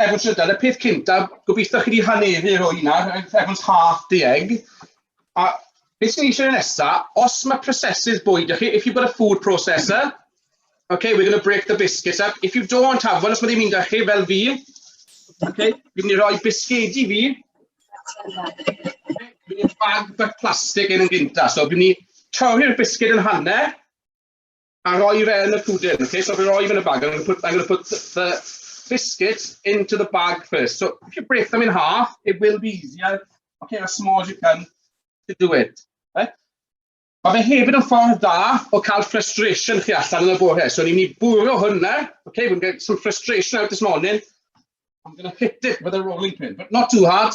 efo trydar, y peth cyntaf, gobeithio chi wedi haneru o hynna, everyone's half the egg. A beth sy'n eisiau nesa, os mae prosesydd bwyd ych chi, if you've got a food processor, okay, we're going to break the biscuits up. If you don't have one, os mae ddim un da chi, fel fi, okay, fi'n mynd i roi bisgedi fi, fi'n mynd i bag bach plastig yn yn gynta, so fi'n mynd i torri'r bisged yn hanner, a rhoi fe yn y pwdin. Okay, so fi'n rhoi fe yn y bag. I'm going to put, I'm going to put the biscuit into the bag first. So if you break them in half, it will be easier. Okay, as small as you can to do it. Okay? Mae fe hefyd yn ffordd da o cael frustration chi allan yn y bore. So ni'n mynd i bwrw hwnna. Okay, we're going to get some frustration out this morning. I'm going to hit it with a rolling pin, but not too hard.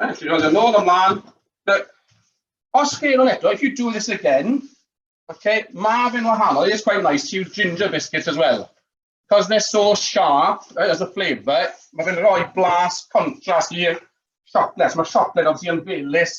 Right, you roll nôl ymlaen. But os chi yn eto, if you do this again, okay, mae fe'n wahanol. It's quite nice to use ginger biscuits as well. Because they're so sharp eh, as a flavour, mae fe'n rhoi blas contrast i'r siocled. Mae siocled obviously yn felus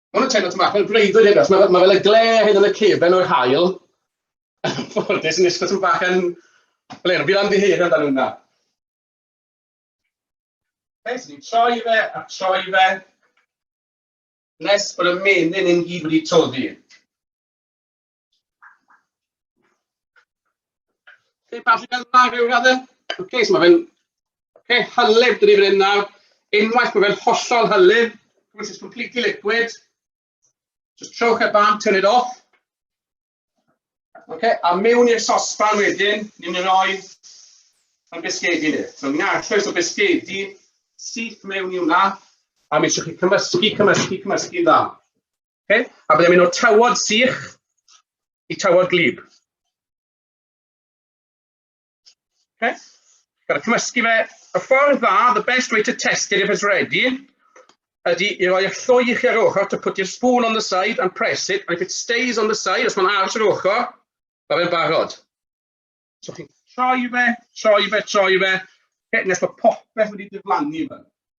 Mae hwn yn teimlo tyma'n bach fel breuddwyd hyn, achos mae, mae fel y gle hyn yn y cefen o'r hael. Ffodus yn eistedd tyma'n bach yn... Fel hyn, fi'n amddiheir amdano hwnna. Fe, so ni'n troi fe a troi fe, nes bod y menyn yn gyd wedi toddi. Lle bach yn dda rhyw radde. Ok, so mae fe'n ok, hylif dyn ni fan hyn nawr. Unwaith mae fe'n hollol hylif, which is completely liquid, just trowch e ban, turn it off. Ok, a mewn i'r sosban wedyn, ni'n mynd roi yn bisgedi ni. So ni'n arllwys o bisgedi syth mewn i hwnna, a mi eisiau chi cymysgu, cymysgu, cymysgu dda. Okay? A byddai'n mynd o'r tawod sych i tawod glib. Okay? Gael cymysgu fe. Y ffordd dda, the best way to test it if it's ready, ydy i roi y lloi i chi ar ochr to put your spoon on the side and press it, and if it stays on the side, os mae'n aros ar ochr, mae fe'n barod. So chi'n troi fe, troi fe, troi fe, okay, nes mae popeth wedi diflannu fe.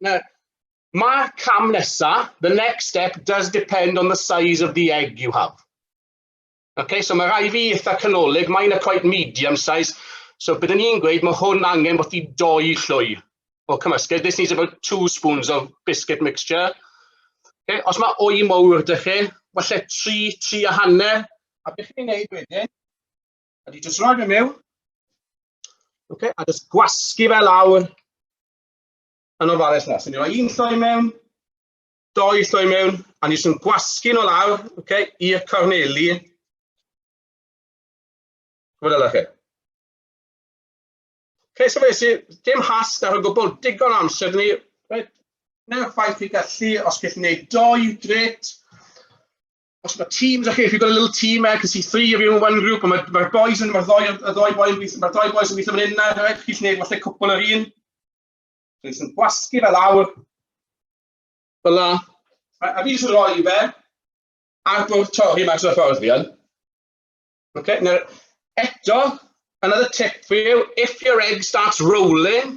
Now, mae'r cam nesaf, the next step, does depend on the size of the egg you have. Okay, so mae rai fi eitha canolig, mae'n a quite medium size, so byddwn ni'n gweud mae hwn angen bod i doi llwy o cymysgedd. This needs about two spoons of biscuit mixture. Okay, os mae o'i mowr dych chi, falle tri, tri a hanner, a beth chi'n gwneud wedyn, ydy jyst rhoi fe mewn, okay, a jyst gwasgu fe lawr yn ofalus na. So ni roi un lloi mewn, doi lloi mewn, a ni jyst yn gwasgu nhw lawr, okay, i'r corneli. Gwyd ala chi. Okay, so fe sy'n dim has ar y gwbl, digon amser ni. Right. Neu'r ffaith i gallu, os gallwn ni doi, gret. os mae teams, okay, if you've got a little team there, because see three of you in one group, mae'r ma boys yn, mae'r ddoi, y ddoi boys yn gweithio, mae'r ddoi boys yn gweithio fan hyn na, right? chi'n gwneud falle cwpl yr un. Dwi'n sy'n gwasgu fel awr. Fel la. A fi jyst yn rhoi fe ar bwrdd torri mas o'r ffordd fi yn. Okay, now, eto, another tip for you, if your egg starts rolling,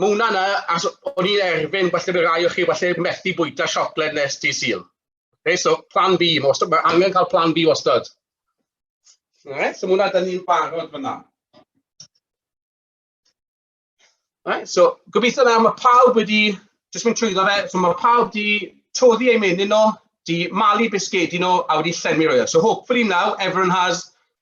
Ma' hwnna'n yy as o'n i'n erfyn falle by' rai o chi falle methu bwyta siocled nes dydd Sul. Oce so plan B ma' wastad ma' angen cael plan B wastad. Alright so ma' hwnna dyn ni'n barod fan'na. Alright so gobeithio nawr ma' pawb wedi jyst mynd trwyddo fe so ma' pawb 'di toddi eu menyn nhw, 'di malu bisgedi nhw a wedi llenwi rhywle. So hopefully now everyone has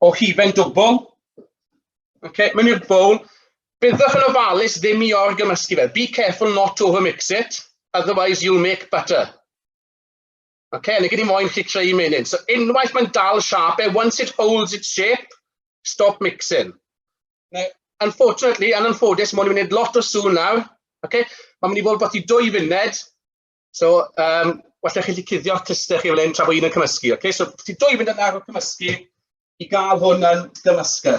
o hufen dwbl. Okay, mae'n i'r bowl. Byddwch yn ofalus ddim i orgymysgu fe. Be careful not to overmix it, otherwise you'll make butter. Okay, yn y gyd i moyn chi creu menyn. So unwaith mae'n dal siap e, once it holds its shape, stop mixing. Now, unfortunately, yn anffodus, mae'n mynd lot o sŵn nawr. Okay? Mae'n mynd i fod beth i dwy funud, So, um, well chi wedi cuddio cluster chi fel hyn tra bod un yn cymysgu. Okay? So, ti dwy mynd yn ar y cymysgu i gael hwn yn gymysgu.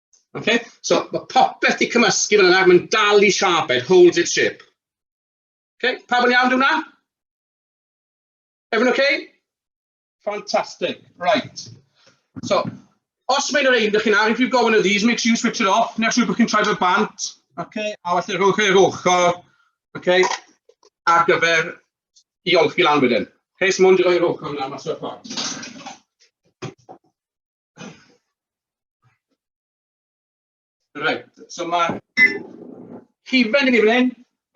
Okay? So, mae popeth di cymysgu fel yna, mae'n dal i siap, it holds its shape. Okay? Pa yn iawn hwnna? Everyone okay? Fantastic, right. So, os mae'n yr ein dych chi'n ar, if you've got one of these, make sure you switch it off, neu siw bod chi'n troi fel bant, okay? a felly rhowch e'r ochr, okay? ar gyfer i olchi lan wedyn. Okay, so mwyn rhoi'r ochr yna mas o'r ffordd. Reit, so mae hufen i ni fan hyn,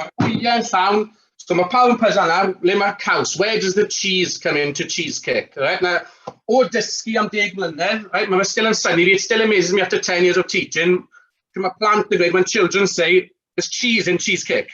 mae'r gwyliau yn llawn, so mae pawb yn pwysa nawr, le mae'r caws? Where does the cheese come in to cheesecake? Right, now, o dysgu am deg mlynedd, right, mae fe still yn syni fi, it still amazes me after 10 years of teaching, pryd mae plant yn dweud, when children say, there's cheese in cheesecake.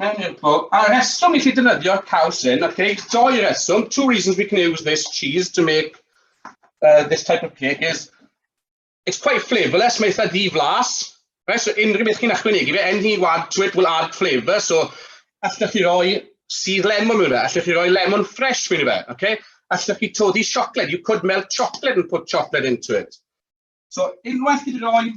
Mewn i'r bwl. A reswm i chi dynyddio caws hyn, ac eich doi reswm, two reasons we can use this cheese to make uh, this type of cake is, it's quite flavourless, mae eitha di-flas, right? so unrhyw beth chi'n ychwanegu fe, anything you add to it will add flavour, so allwch chi roi sydd lemon mewn fe, allwch chi roi lemon fresh mewn fe, okay? allwch chi todi siocled, you could melt chocolate and put chocolate into it. So unwaith chi wedi rhoi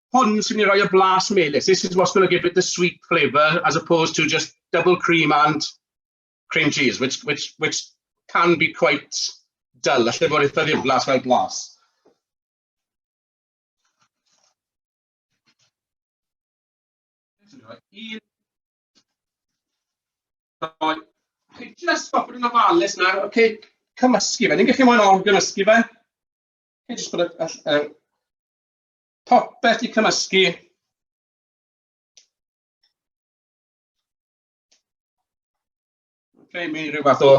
hwn sy'n ei roi y blas melys. This is what's going to give it the sweet flavour as opposed to just double cream and cream cheese, which, which, which can be quite dull. Alla fod eitha ddiflas fel blas. Un... Just stop yn ofalus nawr, okay, cymysgu fe. Ni'n gallu mwyn o'n gymysgu fe. Okay, just put a, a, a Popeth i cymysgu. Okay, mi rhyw fath o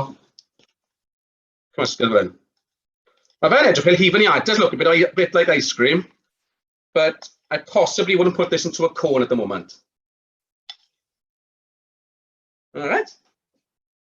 cymysgedd fan. Mae fe'n edrych fel hufen iata, look, a bit, a bit like ice cream, but I possibly wouldn't put this into a cone at the moment. All right.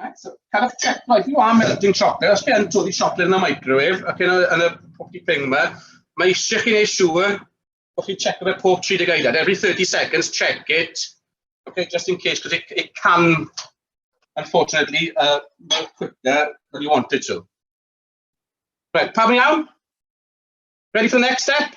Right, so, cael eich check, right, you are melting chocolate, os gen todi chocolate yn y microwave, ac yn y, yn y pocky thing yma, mae eisiau chi wneud siŵr bod chi'n check fe pob 30 eiliad. Every 30 seconds, check it, okay, just in case, because it, it can, unfortunately, uh, move quicker than you want it to. Right, pam iawn? Ready for the next step?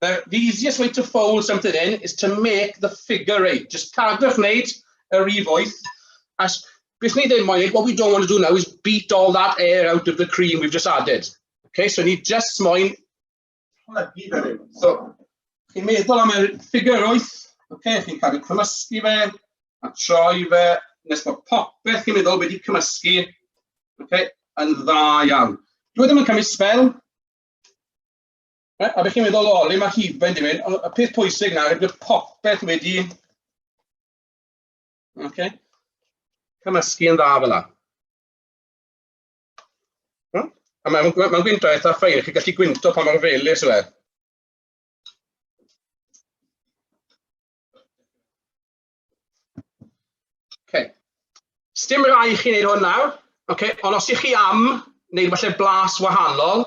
The, the easiest way to fold something in is to make the figure eight. Just cadwch wneud yr rif wyth. As, beth ni ddim moyn, what we don't want to do now is beat all that air out of the cream we've just added. Okay, so ni just moyn plygu fe rhyw. So, chi'n meddwl am y ffigur wyth, okay, chi'n cadw cymysgu fe, a troi fe, nes bod popeth chi'n meddwl wedi cymysgu, okay, yn dda iawn. Dwi ddim yn cymryd spel, Right, a beth chi'n meddwl o, le mae hufen di mynd? Y peth pwysig na, rydw popeth wedi... Okay. Cymysgu yn dda fel yna. A mae'n ma, ma gwyntog eitha ffein, chi'n gallu gwynto pa mor felus yw e. Okay. Sdim rai chi'n neud hwn nawr, okay. ond os ych chi am wneud falle blas wahanol,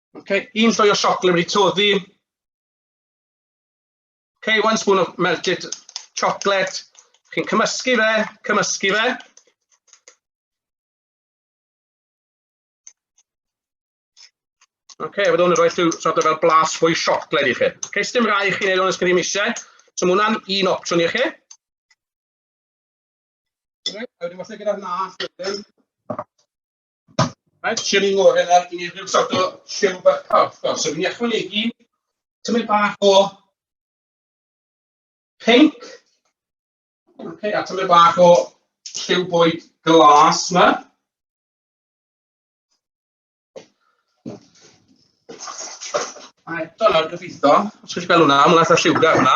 Ok, un llwy o siocled wedi toddi. Ok, one spoon of melted chocolate. Chi'n cymysgu fe, cymysgu fe. Ok, a byddwn yn rhoi llw sort of fel blas fwy siocled i chi. Ok, sdim rai i chi wneud o'n ysgrifennu eisiau. So mae hwnna'n un opsiwn i chi. Ok, a wedyn falle gyda'r nas wedyn. Mae'n siwr i'n ngorau ar i rhyw sort o siw bach carchar. So fi'n ychwanegu tymau bach o pink. Okay, a tymau bach o lliw bwyd glas yma. A eto nawr gyfeitho, os ydych chi'n gweld hwnna, mae'n eitha lliwgar hwnna.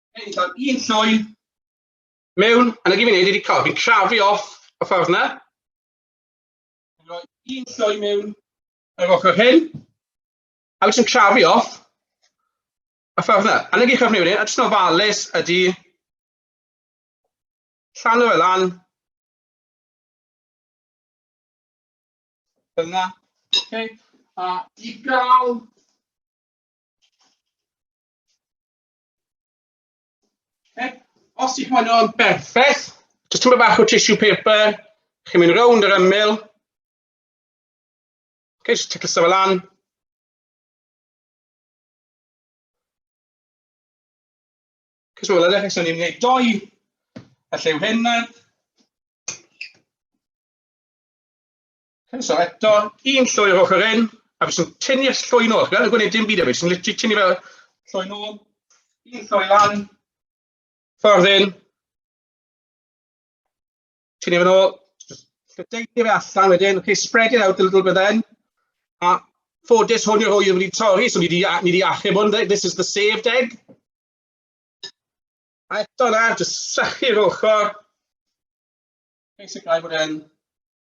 Hyn, cael un llwy mewn, a na gyd fi'n neud wedi cael, fi'n crafu off y ffordd na. Fi'n rhoi un llwy mewn ar yr ochr hyn, a fi'n crafu off y ffordd na. A na gyd chi'n neud, a jyst yn ofalus ydy llan o'r lan. Dyna. Okay. A i gael Okay. Os ydych chi'n o'n berffaith, jyst tymor bach o tissue paper, chi'n mynd rownd yr ymyl. Okay, jyst ticio sefyll lan. Cys mae'n edrych eich ni'n gwneud doi, a llew hyn nawr. Croeso eto, un llwy o'r ochr hyn, a fi sy'n tynnu y llwy nôl. Gan y gwneud dim byd efo, sy'n literally tynnu fel llwy nôl, un llwy lan, ffordd hyn, tynnu fe nôl, lledeini fe allan wedyn, okay, spread it out a little bit then, a ffodus hwn yw'r hwy wedi torri, so ni wedi, ni wedi achub hwn, this is the saved egg. A eto na, jyst sychu'r ochr, basically bod e'n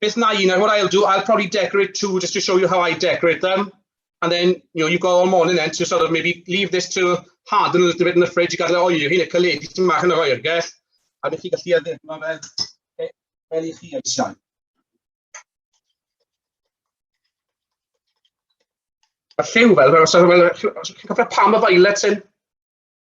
Beth na i, 'na what I'll do, I'll probably decorate two just to show you how I decorate them. And then, you know, you've got all morning then to sort of maybe leave this to harden a little bit in the fridge i gael ei oeri, neu caledu ti'n mach yn yr oergell. A bych chi gallu addurno fe e, fel i chi eisiau. A lliw fel, fel os ydych chi'n cofio pam y violet hyn?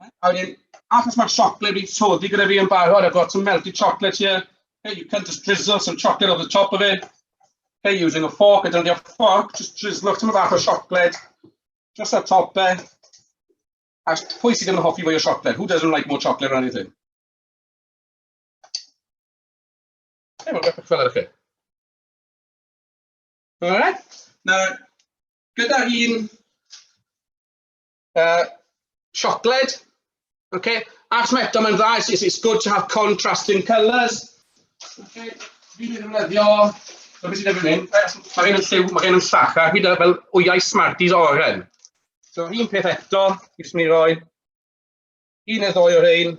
A wedyn, achos mae'r siocled wedi toddi gyda fi yn barod, I've got some melted chocolate here. Hey, you can just drizzle some chocolate over the top of it. Hey, using a fork, I don't need a fork, just drizzle off some bach o siocled. Just a top e. A pwy sydd ddim yn hoffi fwy o siocled? Who doesn't like more chocolate or anything? Hey, mae'n beth fel chi. Alright. Nawr, gyda un Uh, siocled. Okay. Ac mae eto mae'n dda, it's, it's good to have contrasting colours. Okay. Fi ddim yn ddefnyddio, mae beth sy'n efo'n hyn, mae gen yn lliw, mae gen yn llach, a hyd fel wyau Smarties oren. So un peth eto, fi jyst mynd i roi un neu ddoi o'r ein.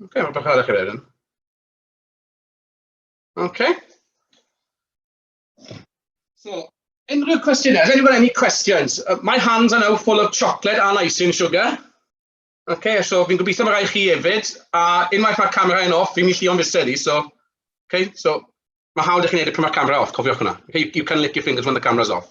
Ok, mae'n bach arach i rhaid yn. Ok. So, unrhyw cwestiynau? Has anyone any questions? Uh, my hands are now full of chocolate and icing sugar. Ok, so fi'n gobeithio mae rai chi hefyd. A unwaith mae'r camera yn off, fi'n mynd i llio'n fused i, so... Ok, so mae hawdd i chi wneud y pryd mae'r camera off, cofiwch hwnna. You can lick your fingers when the camera's off.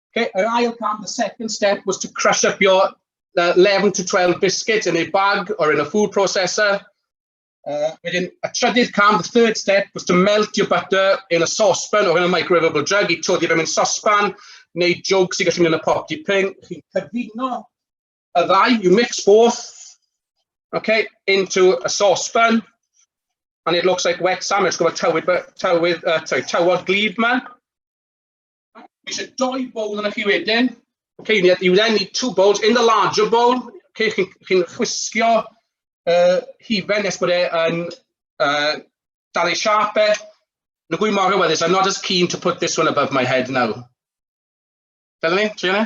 Okay, yr ail cam, the second step was to crush up your uh, 11 to 12 biscuits in a bag or in a food processor. Uh, wedyn, y trydydd cam, the third step, was to melt your butter in a saucepan or in a microwavable jug. I todi fe mewn saucepan neu jwg sy'n gallu mynd yn y pop dipyn. Chi'n cyfuno y ddau, you mix both, okay, into a saucepan. And it looks like wet sandwich, gwybod tywydd, tywydd, uh, sorry, tywod glib man. Mae eisiau doi bowl yna chi wedyn. Okay, you need, you then need two bowls. In the larger bowl, okay, chi'n chi chwisgio uh, hifen nes bod e'n uh, dal ei siap e. Na gwy mor hyweddus, I'm not as keen to put this one above my head now. Fel ni, Triana?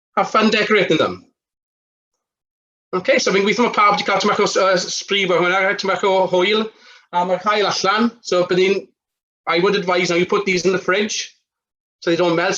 Have fun decorating them. OK, so fi'n gweithio mae pawb wedi cael tymach o uh, spree fo hwnna, tymach o hwyl, a mae'r cael allan. So bydd i'n, I would advise now you put these in the fridge, so they don't melt, so